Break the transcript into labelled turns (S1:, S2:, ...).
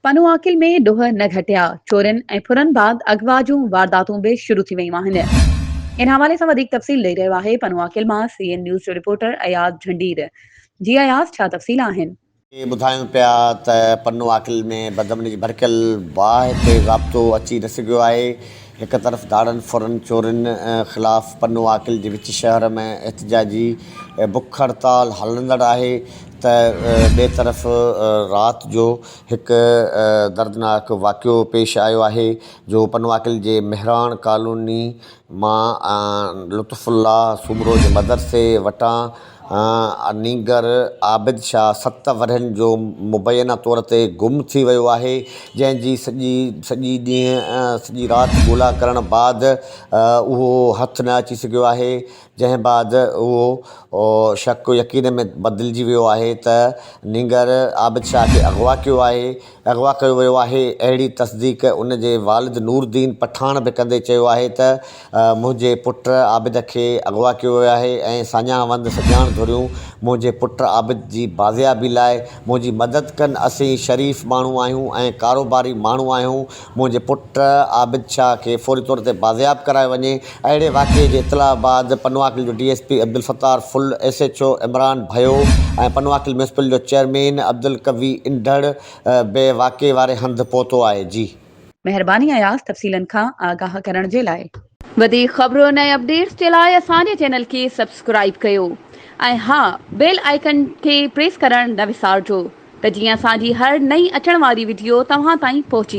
S1: پنهون عاقل ۾ ڏوهه نه گهٽيا، چورين ۽ ڦرن بعد اغوا جون وارداتون به شروع ٿي ويون آهن. ان حوالي سان وڌيڪ تفصيل ڏئي رهيو آهي پنهون عاقل مان سي اين نيوز جو رپورٽر اياز جهنڊير. جي اياز ڇا تفصيل آهن؟ ۾ ٻڌايون پيا
S2: ته پنهون عاقل ۾ بدامني جي ڀڙڪيل باهه تي ضابطو اچي نه سگهيو آهي هڪ طرف ڌاڙن ڦرن چورين خلاف پنو عاقل جي وچ شهر ۾ احتجاجي بک هڙتال هلندڙ آهي ته ٻئي طرف رات جو هڪ دردناڪ واقعو پيش آيو آهي جو پنو عاقل جي مهراڻ ڪالوني مان لطف الله سومرو جي مدرسي وٽان انيگر عابد شاهه ست ورهين جو مبينا طور تي گم ٿي ويو آهي، جنهن جي سڄي سڄي ڏينهن سڄي رات ڳولا ڪرڻ بعد اهو هٿ نه اچي سگهيو آهي، جنهن بعد اهو شڪ يقين ۾ بدلجي ويو آهي ته نينگر عابد شاهه کي اغوا ڪيو آهي. اغوا ڪيو ويو آهي، اهڙي تصديق ان جي والد نوردين پٺاڻ به ڪندي چيو آهي ته منهنجي پٽ عابد کي اغوا ڪيو ويو آهي ۽ ساڃاهه وند سڄاڻ ڌريون منهنجي پٽ عابد جي بازيابي لاء منهنجي مدد ڪن، اسين شريف ماڻهو آهيون ۽ ڪاروباري ماڻهو آهيون، منهنجي پٽ عابد شاهه کي فوري طور تي بازياب ڪرايو وڃي. اهڙي واقعي جي اطلاع بعد پنواڪل جو D S P Abdul Sattar Phul, S H O Imran Bhayo ۽ Panoaqil municipal جو چيئرمين عبدالقوي انڍڙ به واقعي واري هنڌ پهتو آهي. جي. مهرباني اياز
S1: تفصيلن کان آگاهه ڪرڻ جي لاء. وڌيڪ خبرن
S3: ۽ اپڊيٽس جي لاء اسان جي چينل کي سبسڪرائيب ڪيو ۽ ها بيل آئيڪن کي پريس ڪرڻ نه وسارجو ته جيئن اسان جي هر نئين اچڻ واري وڊيو توهان تائين پهچي.